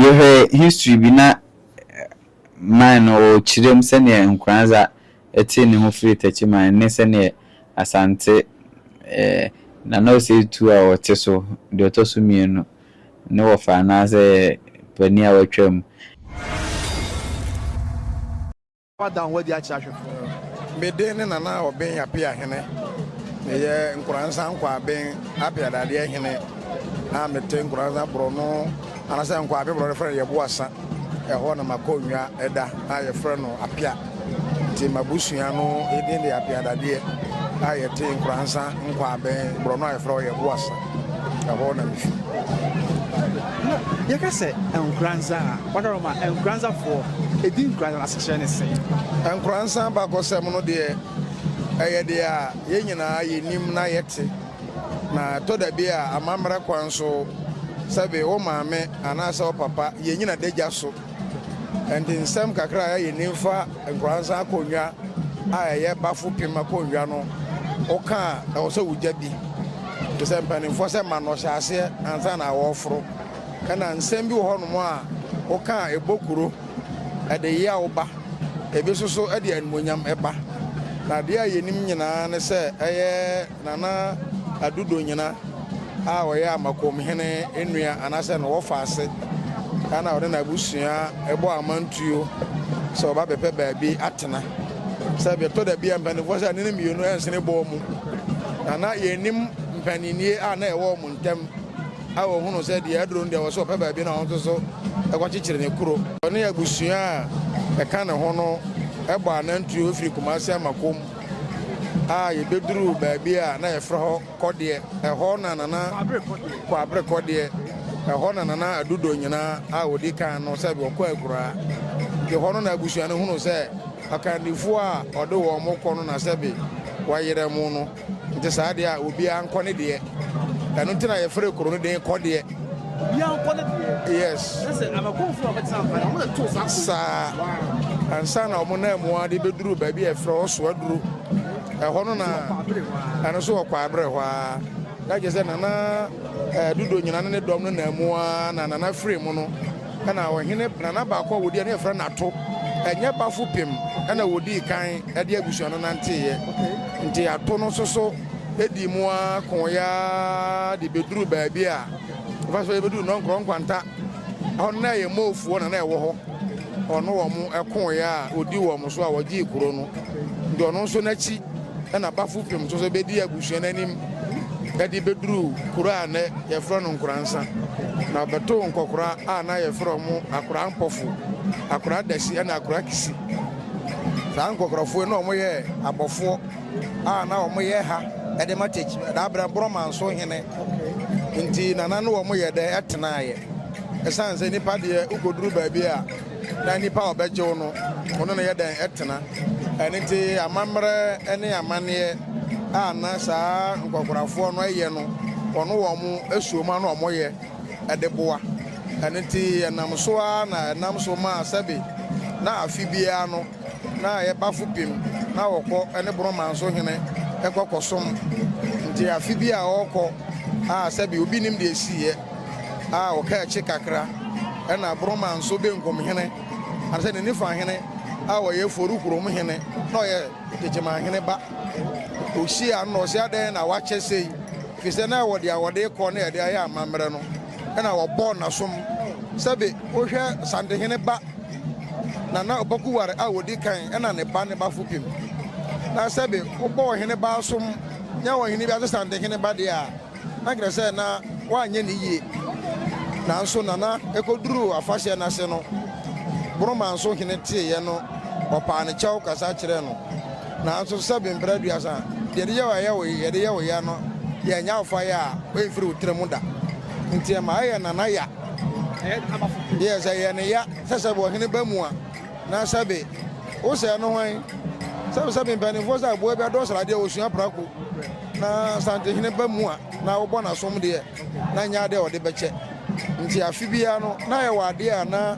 Yɛhwɛ history bi na mine no ɔkyerɛm sɛdeɛ Nkoranza tee ne ho firi Takyi mine ne sɛdeɛ Asante eh Nana Osei Tuo a ɔte so deɛ ɔtɔ so mmienu ne wɔfa anaasɛ panin a watwam. Woada wo ho adi akyerɛ ahwɛfo no. Me din ne Nana Obeng Appiah Hene. Meyɛ Nkoranza Nkwaben Appiah dadeɛ hene a mete Nkoranza borɔno anasɛ Nkwabe borɔno frɛ no Yɛboasa ɛhɔ na m'akonnwa da a yɛfrɛ no Appiah nti m'abusua no din de Appiah dadeɛ a yɛte Nkoranza Nkwaben borɔno a yɛfrɛ hɔ Yɛboasa. Ɛhɔ na mifi. Na yɛka sɛ Nkoranza a, wɔdɔrɔ ma Nkoranzafoɔ, edin Nkoranza no asekyerɛ ne sɛn? Nkoranza abakɔsɛm no deɛ, ɛyɛ deɛ a yɛn nyinaa yɛnim na yɛte, na ɛtɔ da bi a amammerɛ kwan so, sɛbe wo maame anaasɛ wo papa, yɛnnyina adagya so Ɛnde nsɛm kakra a ɛyɛ yɛn ni mfa nkwadaa nsa akonnwa a ɛyɛ bafopem akonnwa no ho ka a, ɛwɔ sɛ wogya bi. Te sɛ mpanimfoɔ sɛ ma no ɔhyɛ aseɛ ansa na wɔreforo. Ɛna nsɛm bi wɔ hɔnom a woka a ɛbɔ kuro, ɛde yaw ba, ebi nso so ɛde animuonyam ba. Na adeɛ a yɛnim nyinaa ne sɛ ɛyɛ. Nana Adu Donyena a ɔyɛ Amakom hene nua anaasɛ ne wɔfaase na ɔde n'abusua bɔ amantuo sɛ ɔba bɛpɛ baabi atena. Sɛ bi ɛtɔ da bi a mpaninfoɔ sɛ anini mmienu ɛnsene bɔɔ mu na na yɛnim mpaninnie a na ɛwɔ wɔn ntɛm a wɔhunu sɛ deɛ aduro no deɛ wɔ sɛ ɔpɛ baabi na wɔn nso so ɛkɔkyekyere ne kuro. Ɔne abusua a ɛka ne ho no ɛbɔ anantuo firi Kumasi Amakom. a yɛbɛduruu baabi a na yɛfrɛ hɔ Kɔdeɛ. Ɛhɔ na Nana Kwabere Kɔdeɛ, ɛhɔ na Nana Adu Donyena a ɔdi kan no sɛ wɔkɔ akuraa. Nti hɔ no na abusua no hunu sɛ akandifoɔ a ɔde wɔn kɔ no na sɛbe wɔayera mu no. Nti saa deɛ a obiara nkɔ ne deɛ. Ɛno nti na yɛfrɛ kuro no din Kɔdeɛ. Obiara nkɔ ne deɛ. Yes. Na sɛ abakɔnfo a wɔbɛtena mpa na wɔbɛto saa kɔ. Saa. Ansa na wɔn nan mu ade bɛduru baabi a ɛfrɛ hɔ Soaduro. Ɛhɔ no na ɛno nso wɔ Kwaeberɛ hɔ ara. Na kyerɛ sɛ Nana eh, Dodo Nyina ne ne dɔm no nan mu ara na Nana firi mu no ɛna ɔhene Nana baako a wɔdi ɛne ɛfrɛ Nato ɛnyɛ Bafo Pem ɛna wɔdii kan ɛde abusua no nanteeɛ. Nti Ato no nso so Edii mu ara kooe ara de beduruu baabi a ɛfa so yebedu Nɔnkorɔ Nkwanta. Ɛhɔ no, na ɛyɛ Moofoɔ na na ɛwɔ hɔ. Ɔno wɔn kooe a ɔdi wɔn so a wɔgyee kuro no. Nti ɔno nso n'akyi na Bafupem nso so bedi abusua no anim de beduruu kuro a nnɛ yɛfrɛ no Nkoransa. Na ɔbɛtoo nkɔkora a na yɛfrɛ wɔn Akora Mpɔfo, Akora Adasi ne Akora Kisi. Saa nkɔkorafoɔ yi na wɔyɛ abɔfoɔ. a na wɔyɛ ha de ma church da berɛ borɔma nso hene nti nana no wɔn yɛ dɛ ɛtenaeɛ ɛsiane sɛ nipa deɛ wokɔduru baabi a na nipa a ɔbɛgyew no ɔno na yɛ dɛn ɛtena ɛne nti amammerɛ ne amanneɛ a na saa nkɔkorafoɔ no ɛyɛ no wɔn wɔn asuoma no wɔn yɛ ɛde boa ɛne nti ɛnam so a na ɛnam so maa sɛbe na afe biara no Na yɛ bafo pim na ɔkɔ ne Borɔman so hene kɔ kɔsom. Nti afe bi a ɔɔkɔ a sɛbe obi nim deɛ ɛsiiɛ a ɔka akyi kakra na Borɔman so benkum hene anasɛ ne nifa hene a ɔyɛ Foru kurom hene na ɔyɛ Teteman hene ba. Ɔhyia no na ɔse adɛn na wakyɛ sei? Fisɛ na ɛwɔ deɛ a ɔde kɔ na ɛde ayɛ amammerɛ no. na wɔbɔɔ n'asom. Sɛbe wohwɛ Santehene ba na na ɔbaku ware a odi kan na ne ba ne bafo pem. Na sɛbe wobɔ ɔhene ba asom nya ɔhene bi ase Santehene ba deɛ a, na kyerɛ sɛ na woanyɛ no yie. Nanso Nana ɛkɔduruu afahyɛ no ase no, Boromanso hene teeɛ no, ɔpaa ne kyɛw kasa kyerɛɛ no. Naaso sɛbe mber aduasa a, deɛ yɛde yɛ wo a yɛ wo ye, yɛde yɛ wo ya no yɛnnyɛ awofo ayɛ a oemmfir wo tsir mu da. Ntsi ɛma ayɛ nana ya. Yes, ɛyɛ ne ya sɛ sɛbe ɔhen ba mu a, na sɛbe wo sɛɛ no hwan? Sɛbe sɛbe mpanimfoɔ sɛ aboa bi adɔ sradeɛ a osua prako, na santeheene ba mu a, na wobɔ n'asom deɛ. na nnyɛ ade a wɔde bɛkyɛ. Ntsi afe biara no, na yɛwɔ ade a na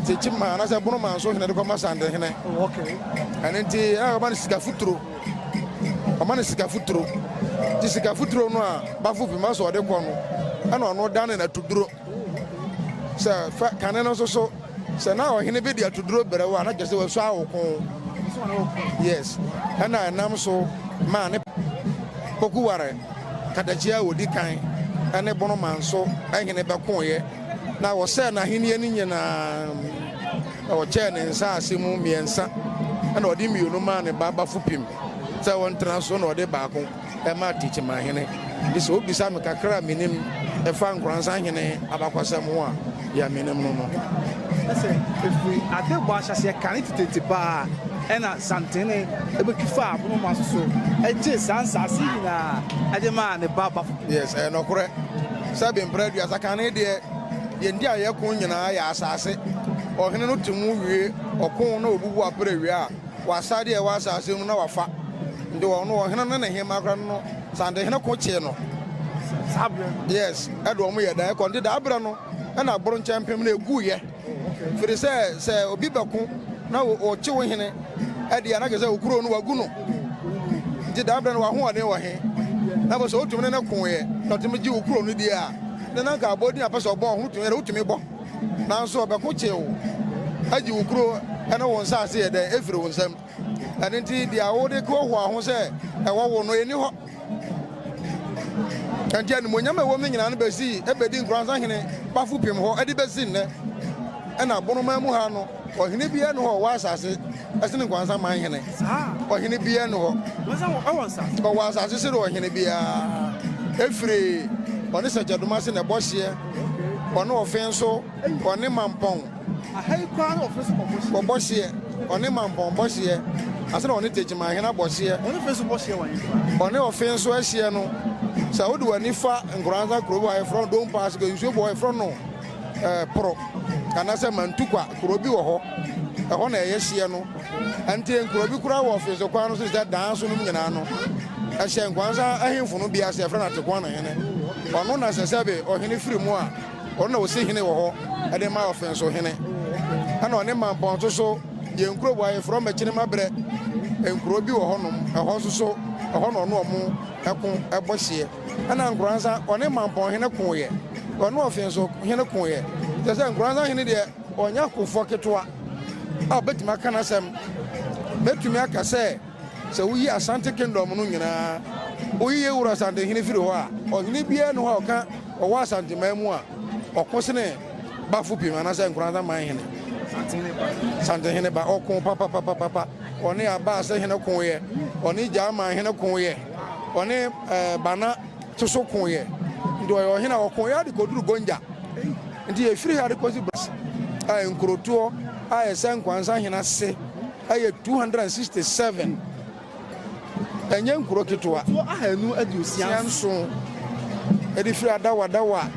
Tekyima anaasɛ Bonoman so hene de kɔma Sandehene. Ɛno ntsi na wɔma no sika futuro. Wɔma no sika futuro. Ntsi sika futuro no a Bafo Pima so ɔde kɔ no, ɛna ɔno da ne n'atoduro. Sɛ fɛ kane no nso so, sɛ na ɔhene bɛdi atoduro brɛ wo a, na kyerɛ sɛ wasu awoko. Yes. Ɛna ɛnam so maa ne poku ware. Kadakia a ɔdi kan ne Bonoman so hene bɛkoeɛ, na wɔsɛee n'ahennie no nyinaa, na wɔkyɛɛ ne nsaase mu mmiɛnsa, ɛna ɔde mmienu maa ne ba Bafupim sɛ wɔntena so, na ɔde baako maa Techiman hene. Nti sɛ wobisa me kakra a menim ɛfa Nkoransan hene abakɔsɛm ho a, Deɛ menim no no, ne sɛ ɛfiri adebɔ ahyɛaseɛ kane tetete pa ara na Santene bɛtwi faa Abonomaa so so gyee saa nsaase yi nyinaa de maa ne ba Bafo. Yes, ɛyɛ nɔkorɛ sɛ be mprɛ aduasa kane deɛ deɛ nti a yɛko nyinaa yɛ asaase. Ɔhene no te mu wie ɔko na ɔbubu aprɛ wie a, Wɔ asadeɛ a ɛwɔ asaase no mu na wafa, nti wɔn no ɔhene no ne hemmaa koraa no santehene ko kyee no, saa berɛ no, yes, ɛde wɔn yɛ dan kɔ, nti daa berɛ no na abronkyɛmpem no ɛguiɛ, firi sɛ sɛ obi bɛko na ɔkye wo hene deɛ a na kyerɛ sɛ wo kuro no wagu no, nti daa berɛ no w'ahoɔden wɔ he? Na afei sɛ wotumi ne no koeɛ na ɔtumi gye wo kuro no die a, na na nka abɔdin a ɔpɛ sɛ ɔbɔ ho tumi a na wotumi bɔ. Nanso ɔbɛko kye wo agye wo kuro ne wo nsase yɛ dɛn afiri wo nsam. Ɛno nti deɛ wode hoahoa ho sɛ ɛwɔ wo no, ɛnni hɔ. Ɛnti animonyam a ɛwɔ mu nyinaa no bɛsii bɛdi nkoransa hene Bafo Pim hɔ de bɛsi nnɛ. Ɛna Bonoman mu ha no. Ɔhene biara nni hɔ a ɔwɔ asase sene nkwansaman hene. Ɔhene biara nni hɔ ɔwɔ asase sene ɔhene biara, ɛfiri ɔne sɛkyɛdoma ase na ɛbɔ hyeɛ, ɔne ɔfe nso, ɔne mampɔn bɔ hyeɛ, ɔne mampɔn bɔ hyeɛ ase na ɔne Techiman hene abɔ hyeɛ, ɔne ɔfe nso ahyeɛ no. Sɛ wode w'ani fa Nkoranza kuro bi hɔ a, yɛfrɛ no Dompass, nsuo bi wɔ hɔ a yɛfrɛ no. ɛɛ Poro anaasɛ Mantukwa, kuro bi wɔ hɔ. Ɛhɔ na ɛyɛ hyeɛ no. Ɛnteɛ nkuro bi koraa wɔ Ɔfeese kwan no so te sɛ Danso nom nyinaa no. Ɛhyɛ Nkwansa ahemfo no bi ase, yɛfrɛ no Atekoana hene. Ɔno na sɛ sɛbe ɔhene firi mu a, ɔno na ɔsi hene wɔ hɔ ɛde ma Ɔfenso hene. Ɛna ɔne Mampɔnso so yɛ nkuro wɔ ha, yɛfrɛ wɔn Akyinemabrɛ. Nkuro bi wɔ hɔnom, ɛhɔ nso so, ɛhɔ na ɔne wɔn ɛko ɛbɔ hyeɛ. Ɛna Nkoransa ɔne Mampɔn hene koeɛ, ɔne Ɔfe nso hene koeɛ. Kyerɛ sɛ Nkoransa hene deɛ ɔnyɛ akofoɔ ketewa a ɔbɛtumi aka n'asɛm. Mɛtumi aka sɛ sɛ woyi Asante Kingdom no nyinaa, woyi Yewura Asante hene firi hɔ a, ɔhene biara nni hɔ a ɔka ɔwɔ Asanteman mu a ɔko sene Bafopim anaasɛ Nkoransa man hene. Asante hene ba, ɔko papapapapa. Ɔne Abaase hene koeɛ, ɔne Gyaman hene koeɛ. Ɔne Bana to so koeɛ, nti ɔyɛ ɔhene a ɔko yɛ de kɔduru Gonja. Nti ɛfiri ha de kɔsi Bas a nkurotoɔ a ɛsɛ Nkwansa hene ase yɛ 267. Ɛnyɛ nkuro ketewa. Nkuro ahanu aduosia nson de firi Adawadawa.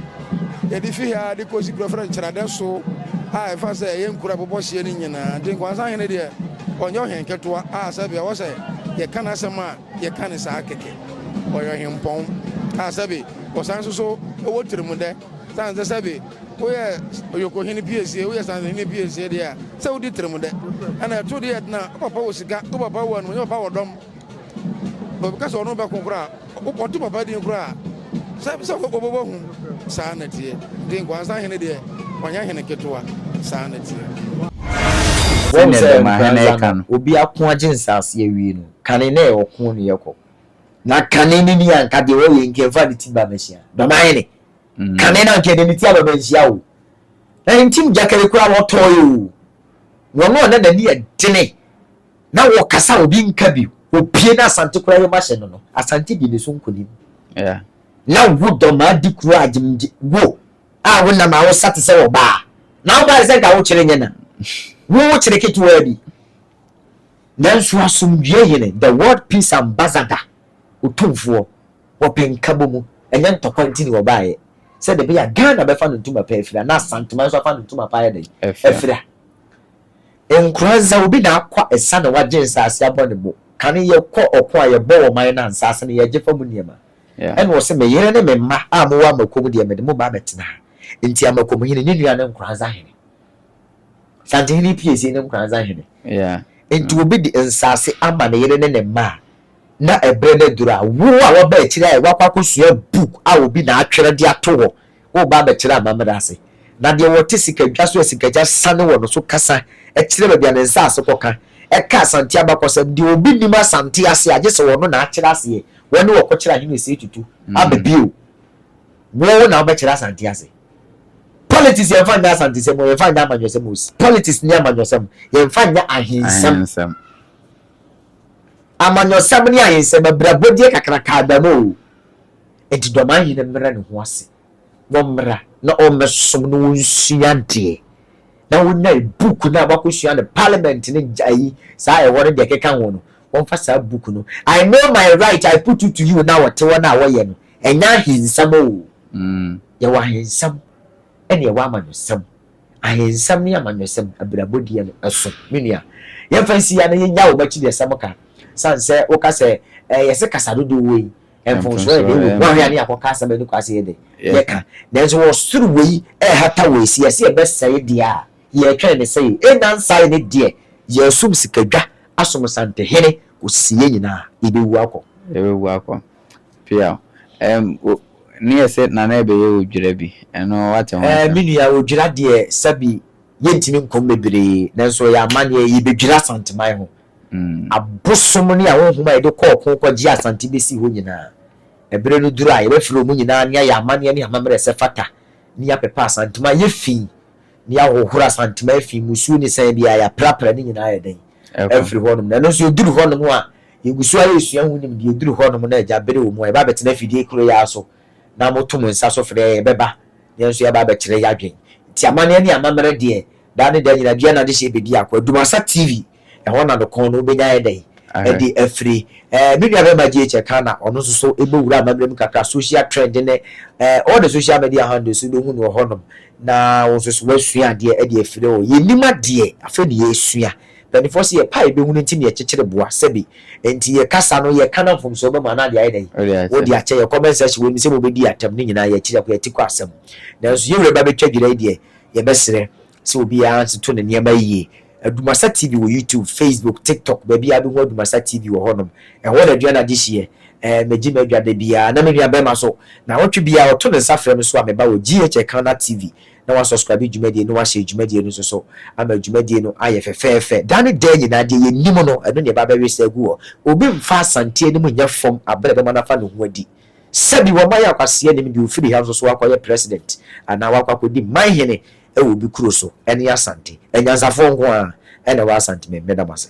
Ebi fi ha de kosi kura frɛ Nkyerɛdɛ so a ɛfa sɛ ɛyɛ nkura bobɔ hyeɛ no nyinaa. Nti Nkwansa hene deɛ ɔnyɛ ɔhen ketewa a sɛbe ɛwɔ sɛ yɛka n'asɛm a yɛka ne saa kɛkɛ. Ɔyɛ ɔhempɔn a sɛbe ɔsan nso so wɔ tirimdɛ. Sane sɛ sɛbe woyɛ Ɔyokohene piesie, woyɛ Sanzehene piesie deɛ a sɛ wodi tirimdɛ. Ɛna ɛto deɛ ɛdena wo papa wɔ sika, wo papa wɔ animuonyam, wo papa wɔ dɔm. Obi ka sɛ ɔno bɛko koraa a, ɔto papa din koraa a, sɛ sɛ ɔbɛbɔ hu. Saa na teɛ. Nti Nkwansa hene deɛ, ɔnyɛ hene ketewa. Saa na teɛ. Sɛdeɛ Dɛmahɛnɛ ka no, obi ako agye nsaase awie no, kane na ɛyɛ ɔko na ɛkɔ. Na kane no ni a, anka deɛ ɔyɛ yi, anka ɛmfa ne ti ba bɛhyia Dɛmahɛnɛ. Kane no, anka ɛde ne ti aba bɛnhyia oo, na ne ntim gyakari koraa na ɔtɔeɛ oo, na ɔno a na n'ani yɛ dene, Na wɔkasa a obi nka bio. Opue na Asante kura yom ahyɛ no no, Asante di ne so nkonim. Yeah. Na wo dɔ maa di kuro a gyem gye, wo a wo nam a wo sa te sɛ ɔbaa. Na wo ba te sɛ nka wo kyere nyɛ na. Wo wo kyere ketewaa bi. Nanso asomdwoeɛ hene, the world peace ambassador, otumfoɔ, wɔpɛ nkabɔ mu, ɛnyɛ ntɔkwa nti ne wɔbaeɛ. Sɛdeɛ ɛbɛyɛ a Ghana bɛfa no ntoma pa afira na Asanteman nso afa no ntoma pa ayɛ dɛn? Afira. Nkoran dza obi na akwa esa na wɔagye nsaase abɔ no mu, kan yɛkɔ ɔko a yɛbɔ wɔ ɔman no a nsaase no yɛgye fa mu nneɛma. Ɛna ɔse, Me yere ne me mma a mowɔ Amako mu deɛ mede mo ba abɛtena ha. Nti Amako mu hene, ne nua ne nkoran dza hene. Santen hene Ipiesi ne nkoran dza hene. Nti obi de nsaase ama ne yere ne ne mma a, na ɛberɛ no aduru a, wo a waba akyire ayɛ, wakɔ akɔsua book a obi na atwerɛ de ato hɔ Woreba abɛkyerɛ amammerɛ ase. Na deɛ ɔte sikadwa so a sikagya sane wɔ no so kasa kyerɛ baabi a ne nsase kɔ ka, ɛka Asante abakɔsɛm, deɛ obi nnim Asante ase a, gye sɛ ɔno na akyerɛ aseɛ, wɔne wɔkɔkyerɛ ahene ɔsei tutu aba bio. Wo na wobɛkyerɛ Asante ase. Politics yɛmfa nyɛ Asantesɛm o, yɛmfa nyɛ amanyɔsɛm o, politics ne amanyɔsɛm, yɛmfa nyɛ ahensɛm. Amanyɔsɛm ne ahensɛm, abirabɔdeɛ kakraka aba mu o. Enti Dɔmahene no mmrɛ ne ho ase na ɔmmra na ɔmmɛsom na ɔnsua adeɛ na ɔnyae book no a wakɔsua no parliament no ayi saa ɛhɔ no deɛ ɛkeka ho no wɔmfa saa book no I know my right I put it to you na wɔte hɔ no a wɔyɛ no ɛnyɛ ahensɛm oo yɛwɔ ahensɛm ɛne yɛwɔ amanyɔsɛm ahensɛm ne amanyɔsɛm abirabɔdeɛ no ɛso me nua yɛmfa nsi ya na yɛnya wɔn akyirideɛsɛm ka sane sɛ woka sɛ ɛɛ yɛse kasa dodoɔ wɔ yi Mfomsoɔ yɛ den wom. Woanhwɛ a ne yɛakɔka asɛm a ɛni kwan sɛ yɛdɛ yɛka. Nanso wɔ soro wei ɛrehata wɔ ɛsi yɛ sɛ yɛbɛsɛe deɛ a yɛretwɛn ne sɛeɛ. Ɛnna nsae ne deɛ yɛresom sikadwa asom santehene kɔsi yɛn nyinaa yɛbɛwu akɔ. Yɛbɛwu akɔ. Piaw. Ɛm o, ne yɛ sɛ Nana ɛbɛyɛ odwira bi. Ɛno woate ho asɛm. Me nua, odwira deɛ sɛbi yɛntumi nkɔm bebree nanso ɛyɛ amanneɛ yɛbɛdwira Asanteman ho abosom ne ahonhom a yɛde kɔ ɔko kɔgye Asante besii hɔ nyinaa. Bere no duru a yɛbɛfrɛ wɔn nyinaa ne ayɛ amanneɛ ne amammerɛ sɛ fata ne yɛapepa Asantuma ayɛ fi ne yɛahohoro Asantuma afi mmusuo ne sɛn biara yɛaprapra ne nyinaa ayɛ dɛn afiri hɔnom na ɛno nso yɛduru hɔnom a yɛgu so ara yɛsua ho nimdeɛ ɛduru hɔnom na agya bere wɔ mu a yɛba abɛtena afidie koro yi ara so na moto mo nsa so frɛ yɛn yɛbɛba na yɛn nso yɛaba abɛkyerɛ yɛn adwene nti amanneɛ ne amammerɛ deɛ Daa ne daa nyinaa, dua na adehyeɛ bɛdi ako. Adumasa TV, ɛhɔ na no kɔn no wobɛnya ayɛ dɛn ɛde afiri. Ɛɛ me nua bɛma GH Kana, ɔno nso so ɛbɔ wura amammerɛ mu kakra, social trend ne ɛɛ all the social media handles wobɛhu no wɔ hɔ nom na wo nso so woasua adeɛ ɛde afiri hɔ. Yɛnim adeɛ, afei na yɛresua. Mpaninfoɔ se yɛpɛ a yɛbɛhu no nti na yɛkyekyere boa, sɛbi. Ɛnti yɛ kasa no yɛ ka na mfomsoɔ bɛ mu a na ade ayɛ dɛn? Wode akyɛ. Yɛ comment section wɔ nim sɛ mobɛdi yɛ atɛm, ne nyinaa yɛ akyiri akɔ yɛ ati kɔ asɛm. Nanso yɛ wura bɛbɛtwa dwira yi deɛ, Yɛbɛsrɛ sɛ obiara ntoto ne nneɛma yie. Adumasa TV wɔ YouTube, Facebook, TikTok, baabiara bɛhu Adumasa TV wɔ hɔnom. Ɛhɔ na aduane adehyeɛ. Ɛɛ, megye m'adwa da biara na me nuabarima nso, nnawɔtwe biara ɔto ne nsa frɛ me so a meba wɔ GHEKana TV na wasɔskraibe dwumadie no, wahyɛɛ dwumadie no nso so ama dwumadie no ayɛ fɛfɛɛfɛ da ne da nyinaa. Deɛ yɛnnim no, ɛno na yɛba abɛwesa agu hɔ. Obi mfa Asante anim nyɛ fam berɛ a ɛbɛma no afa ne ho adi. Sɛbi wɔma yɛ kwasea nim deɛ ofiri ha nso so akɔ yɛ president anaa wakɔ akɔdi man hene wɔ obi kuro so ɛne Asante. Anyansafoɔ nko ara ɛna ɛwɔ Asante mɛda mo ase.